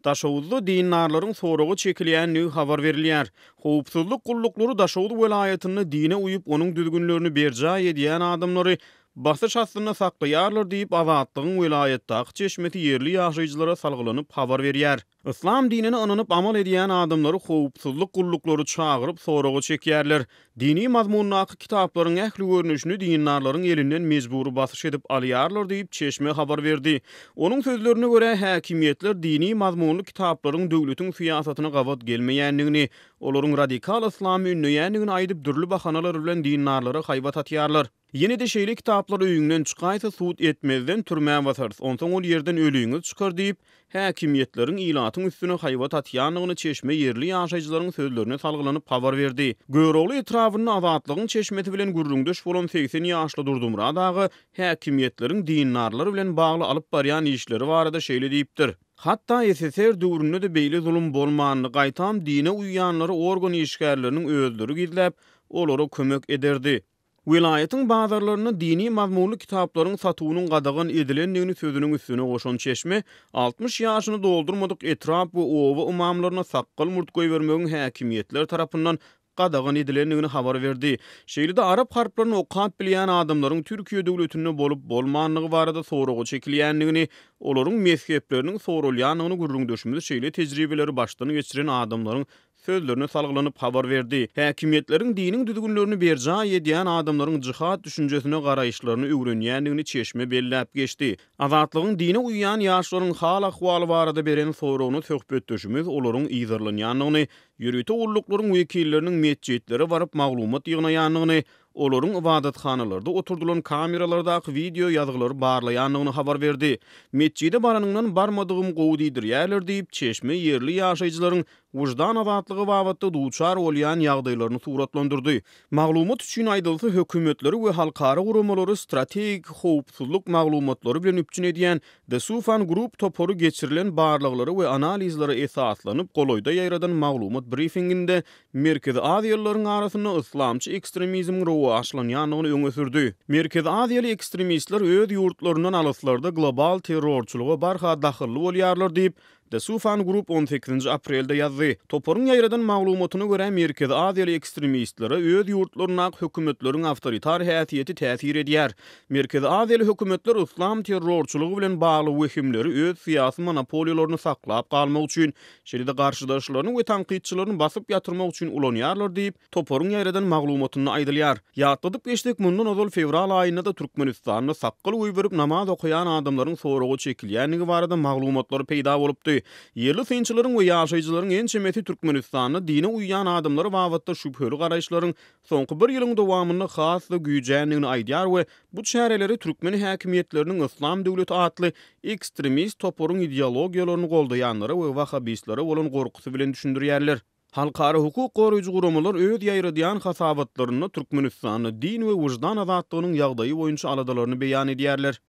Daşoguzda dindarlaryň soraga çekilýändigi habar berilýär. Howpsuzlyk gulluklary Daşoguz welaýatynda dine uýup, onuň düzgünlerini berjaý edýän adamlary basyş astynda saklaýarlar diýip, Azatlygyň welaýatdaky çeşmesi ýerli ýaşaýjylara salgylanyp habar berýär. Yslam dinine ynanyp amal edýän adamlary howpsuzlyk gulluklary çagyryp soraga çekýärler. Dini mazmundaky kitaplaryň ähli görnüşini dindarlaryň elinden mejbury basyş edip alýarlar diýip, çeşme habar berdi. Onuň sözlerine görä, häkimiýetler dini mazmunly kitaplaryň döwletiň syýasatyna gabat gelmeýändigini, olaryň radikal yslamy ündeýändigini aýdyp, dürli bahanalar bilen dindarlara haýbat atýarlar. Ýene-de şeýle kitaplar öýüňden çykaýsa sud etmezden türmä basarys, onsoň ol ýerden ölüňiz çykar diýip, häkimiýetleriň ilatyň üstüne haýbat atýandygyny çeşme ýerli ýaşaýjylaryň sözlerine salgylanyp habar berdi. Görogly etrabynda Azatlygyň çeşmesi bilen gürrüňdeş bolan segsen ýaşly Durdumyrat aga häkimiýetleriň dindarlar bilen bagly alyp barýan işleri barada şeýle diýipdir, Hatda SSR döwründe-de beýle zulum bolmandy, gaýtam dine uýýanlary organ işgärleriniň özleri gizläp, olara kömek ederdi. Welaýatyň bazarlarynda dini mazmunly kitaplaryň satuwynyň gadagan edilendigini sözüniň üstüne goşan çeşme, altmyş ýaşyny doldurmadyk etrap we oba ymamlaryna sakgal-murt goýbermegiň häkimiýetler tarapyndan gadagan edilendigini habar berdi. Şeýle-de arap harplaryny okap bilýän adamlaryň Türkiýe döwletinde bolup-bolmandygy barada soraga çekilýändigini, olaryň mezhepleriniň soralýandygyny gürrüňdeşimiz şeýle tejribeleri başdan geçiren adamlaryň sözlerine salgylanyp habar berdi. Häkimiýetleriň diniň düzgünlerini berjaý edýän adamlaryň jihad düşünjesine garaýyşlaryny öwrenýändigini çeşme belläp geçdi. Azatlygyň dine uýýan ýaşlaryň hal-ahwaly barada beren soragyna söhbetdeşimiz olaryň yzarlanýandygyny, ýörite gulluklaryň wekilleriniň metjitlere baryp maglumat ýygnaýandygyny, olaryň ybadathanalarda oturdylan kameralardaky wideo ýazgylary barlaýandygyny habar berdi. Metjide baranyňdan barmadygym gowy diýdirýärler diýip, çeşme ýerli ýaşaýjylaryň wyždan azatlygy babatda duçar bolýan ýagdaýlaryny suratlandyrdy. Maglumat üçin aýdylsa, hökümetleri we halkara guramalary strategik howpsuzlyk maglumatlary bilen üpjün edýän The Soufan Group topary geçirilen barlaglara we analizlere esaslanyp golaýda ýaýradan maglumat brifinginde Merkezi aziýalylaryň arasynda yslamçy ekstremizmiň rowaçlanýandygyny öňe sürdi. Merkezi aziýaly ekstremistler öz ýurtlaryndan alyslarda global terrorçylyga barha dahylly bolýarlar diýip, The Soufan Group on sekizinji aprelde ýazdy. Toparyň ýaýradan maglumatyna görä, merkezi aziýaly ekstremistlere öz ýurtlaryndaky hökümetleriň awtoritar häsiýeti täsir edýär. Merkezi aziýaly hökümetler yslam terrorçylygy bilen bagly wehimleri öz syýasy monopoliýalaryny saklap galmak üçin, şeýle-de garşydaşlaryny we tankytçylaryny basyp ýatyrmak üçin ulanýarlar diýip, Toparyň ýaýradan maglumatynda aýdylýar. Ýatladyp geçsek, mundan ozal fewral aýynda-da Türkmenistanda sakgal goýberip namaz okaýan adamlaryň soraga çekilýändigi barada maglumatlar peýda bolupdy. Ýerli synçylaryň we ýaşaýjylaryň ençemesi Türkmenistanda dine uýýan adamlar babatda şübheli garaýyşlaryň soňky bir ýylyň dowamynda has-da güýjändigini aýdýar we bu çäreleri türkmen häkimiýetleriniň Yslam döwleti atly ekstremist toparyň ideologiýalaryny goldaýanlara we wahhabistlere bolan gorkusy bilen düşündirýärler. Halkara hukuk goraýjy guramalar öz ýaýradýan hasabatlarynda Türkmenistanda din we wyždan azatlygynyň ýagdaýy boýunça aladalaryny beýan edýärler.